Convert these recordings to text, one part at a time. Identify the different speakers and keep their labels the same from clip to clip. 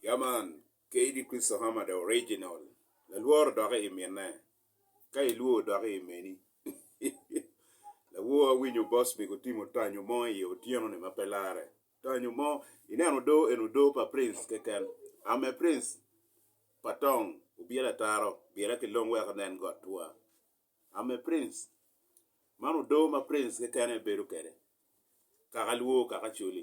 Speaker 1: Ya man, KD Kristo Hama the original lalworo doki i minne ka ilwor doki i meni lawor awinyo boss mego timo tanyo mo i otyeno ni ma pe lare tanyo mo ineno odoo eni odoo pa prince keken ame prince pa tong obyelo ataro byela ki long wek inen got twa ame prince man odoo ma prince keken aye bedo kede kaka lwor kaka coli.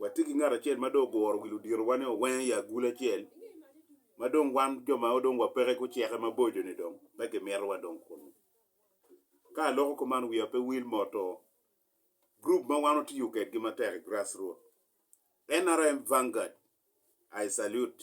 Speaker 1: Watye ki ngat acel ma dong oguro wi luditowa ni owenge i agulu acel, ma dong wan jo ma dong wapeke guceke maboco-ni dong pe kimito wadong kunnu. Ka aloko kuman wiya pe wil moto gurup ma wan watiyo kwedgi matek i Grassroots, NRM Vanguard, I salute.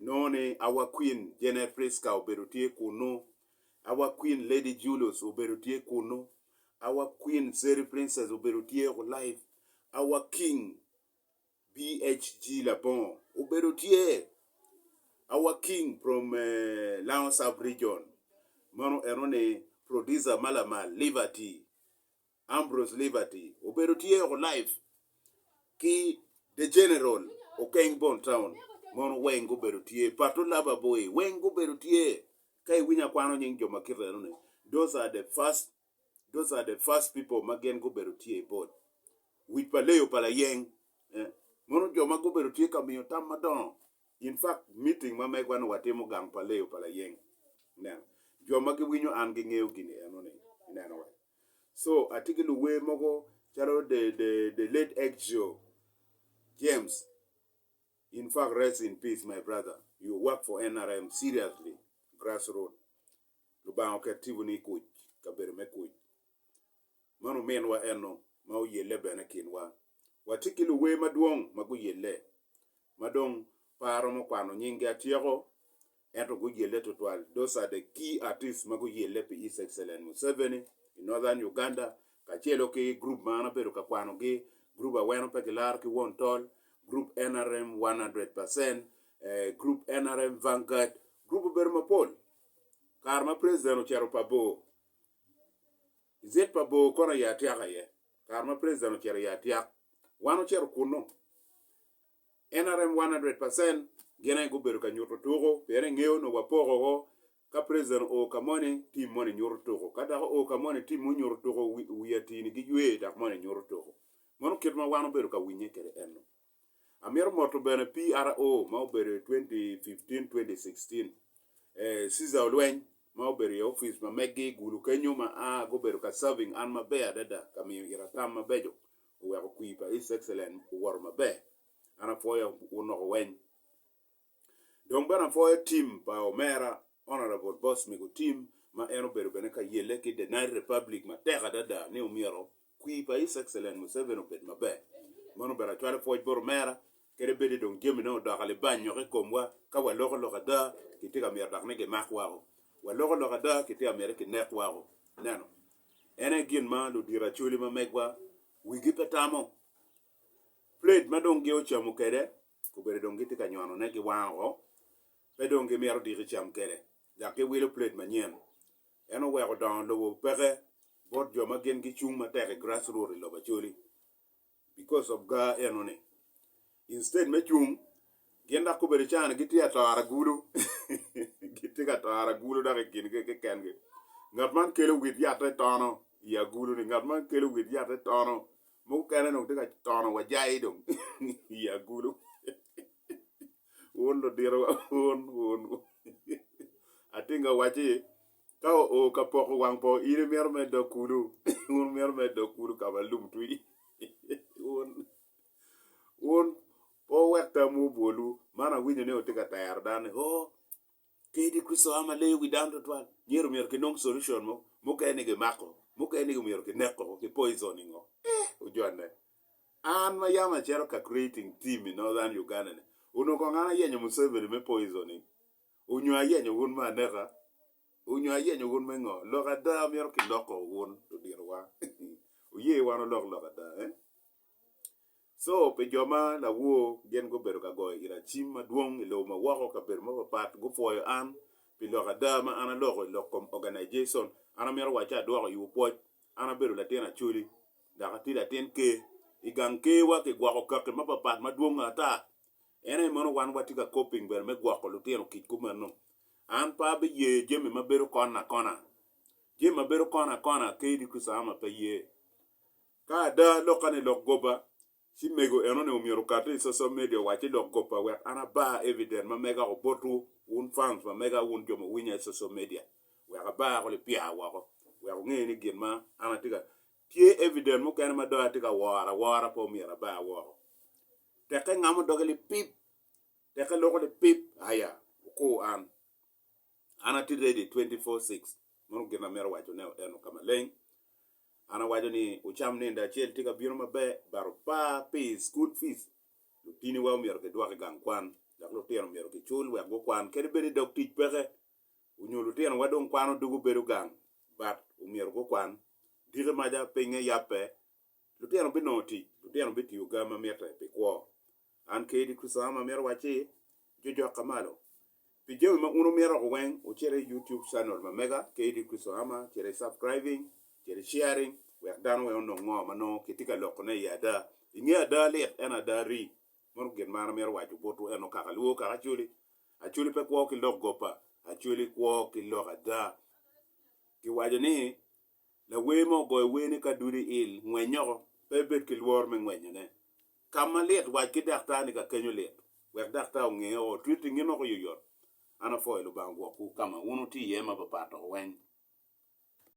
Speaker 1: Inongo ni Our Queen Jane Prisca obedo tye kunnu, Our Queen Lady Julius obedo tye kunnu, Our Queen Zeri Princess obedo tye ku live, Our King BHG Labongo obedo tye, Our King from Lango Sub Region meno eno ni Producer ma lamal Liberty Ambrose Liberty obedo tye oko live ki The General Okeng Bon Town mono weng gubedo tye Pato Laba Boy weng gubedo tye ka iwinyo akwano nying jo ma kit eno ni those are the first those are the first people ma gin gubedo tye i board wic pa leyo pa layeng eh, mono jo ma gubedo tye ka miyo tam madongo in fact meeting ma megwa ni watimo gang pa leyo pa layeng ineno jo ma giwinyo an gingeyo gini eno ni ineno wa So atye ki luwer mogo calo the the the late ex Jo James in fact rest in peace my brother you work for NRM seriously grass root Lubanga oket tipo ni ikuc kabedo me kuc man ominwa eno ma oyelle bene i kinwa watye ki luwer madwong ma guyelle ma dong pe aromo kwano nyinggi atyeko, ento guyelle tutwal. Those are the key artists ma guyelle pi His Excellent Museveni i Northern Uganda, kacelo ki group ma an abedo ka kwanogi, group Aweno Pe Gilaro ki Won Tol, group NRM 100 percent, group NRM Vanguard, group obedo mapol. Kare ma President ocito pa bor. I zed pa bor kono aye atyaka iye. Kare ma president ocito aye atyak. Wan ocito kunnu. NRM one hundred percent gin aye gubedo ka nyuto tuku pien engeyo onongo wapoko woko. Ka president oo ka moni, team moni nyuto tuku. Ka dok oo ka moni, team moni nyuto tuku. Wi atii-ni giywe dok moni nyuto tuku. Meno kit ma wan obedo ka winye kwede ennu. Amito moto bene PRO ma obedo i 2015-2016. Ee, Cesar Olweny, ma obedo i opic ma meggi i Gulu kenyo ma a gubedo ka serving an maber adada ka miyo ita tam mabeco, oweko kwir pa His Excellence owoto maber. An apwoyo wun loko weny. Dong bene apwoyo tim pa omera Honourable Boss Mego Tim ma en obedo bene ka yelle ki The Nile Republic matek adada ni omyero kwi pa His Excellent Museveni obed maber. Meno bene acwalo pwoc bot omera kede bedi dong jamine odoko alibany nyoko i komwa ka waloko lok ada kitye ka myero dok ni gimak wako. Waloko lok ada kitye ka myero kinek wako. Ineno? En aye gin ma ludiro Acholi ma megwa wigi pe tamo. Plate ma dong gi ocamo kwede obedo dong gitye ka nyono ne gi wang oo pe dong gi mito diki cam kwede dok gi wilo plate manyen en oweko dongo lobo peke bot jo ma gin gi cung matek i grass root i lobo Acholi because of ga eno ni instead me cung gin dok obedo cani gi tye atoro agulu gi tye ka toro agulu dok i kin gi ki ken gi ngat man kelo wit yat te tono i agulu ni ngat man kelo wit yat te tono Mukene dong tye ka tono wajai dong i agulu. Wun luditowa wun wun. Atinga owacci ka oo ka poko wang po in imito mere dok kulu. Wun imito mere dok kulu ka ma lum twi. Wun wun pe wuwek tamwu obwolwu. Man awinyo ni wutye ka tero dano ni oo Kadi Kricito a ma leyo wi dano tutwal, myero myero kinong solution mo. Mukene ni gimako, mukene ni myero kineko, ki poisoning o. Eh, ojonne. An ma yam acito ka creating team i Northern Uganda ni, onongo kong an ayenyo Museveni me poisoning? Onyo ayenyo wun me aneka? Onyo ayenyo wun me ngo? Lok ada myero kiloko wun ludito wa. Wuye wan wulok lok ada eh? Co pi jo ma lawor gin gubedo ka goyo ira cim madwong i lobo ma woko. Kabedo mapatpat gupwoyo an pi lok ada ma an aloko i lok kom organization. An amito waco ci adwoko iwu pwoc. An abedo latin Acholi dok atye latin Ker. I gang Kerwa kigwoko kaki mapatpat madwong ata. En aye meno wan watye ka coping bene me gwoko lutino kic kumeno. An pe abiye jami ma bedo kona kona. Jami ma bedo kona kona Ker Idris Ama pe ye. Ka ada lokka ni lok gobba, ci mego enoni omyero okati i social media owacci lok gobba wek an abar evident ma mega o bot wu, wun fans ma mega wun jo ma winya i social media wek abar ko lipya woko wek onge ni gin ma an atye ka tye evident mukene ma do atye ka woro awora pe omyero abar woko. Teke ngamo doge lipip, teke loko lipip aya okur an. An atye ready twenty four six. Meno gin amito waco ne eno ka maleng. An awaco ni wucam nende acel tye ka bino maber but opa pi school fees. Lutini wa omyero ki dwok i gang kwan dok lutino myero ki cul wek gu kwan kadi bed i dog tic peke onyo lutino wa dong kwano dugu bedo gang but omyero gu kwan. Diki maca pinge yabbe Lutino binongo tic. Lutino bitiyo ga ma mitte pi kwo. An kadi, Crisam, amito wacci, jojok ka malo. Pi jami ma un wumito woko weng, wucit i YouTube channel ma mega, Kadi Crisam, cit i subscribing, cit i sharing, wek dano weng onong ngo ma nongo kitye ka loko ne i ada. I nge ada lit, ento ada rii. Mono gin ma an amito waco botwu eno kaka lwor kaka Acholi. Acholi pe kwo ki lok gopa. Acholi kwo ki lok ada. Ki waco ni Lawer mo ogoyo werne ka dudo i il, Ngwenyoko, pe ibed ki lworo me ngwenyone. Ka ma lit, wac ki daktar ni kakenyo lit, wek daktar onge o otriti ngin woko yoyot. An apwoyo Lubanga gwokwu ka ma wun wutye iye ma papat dok weny.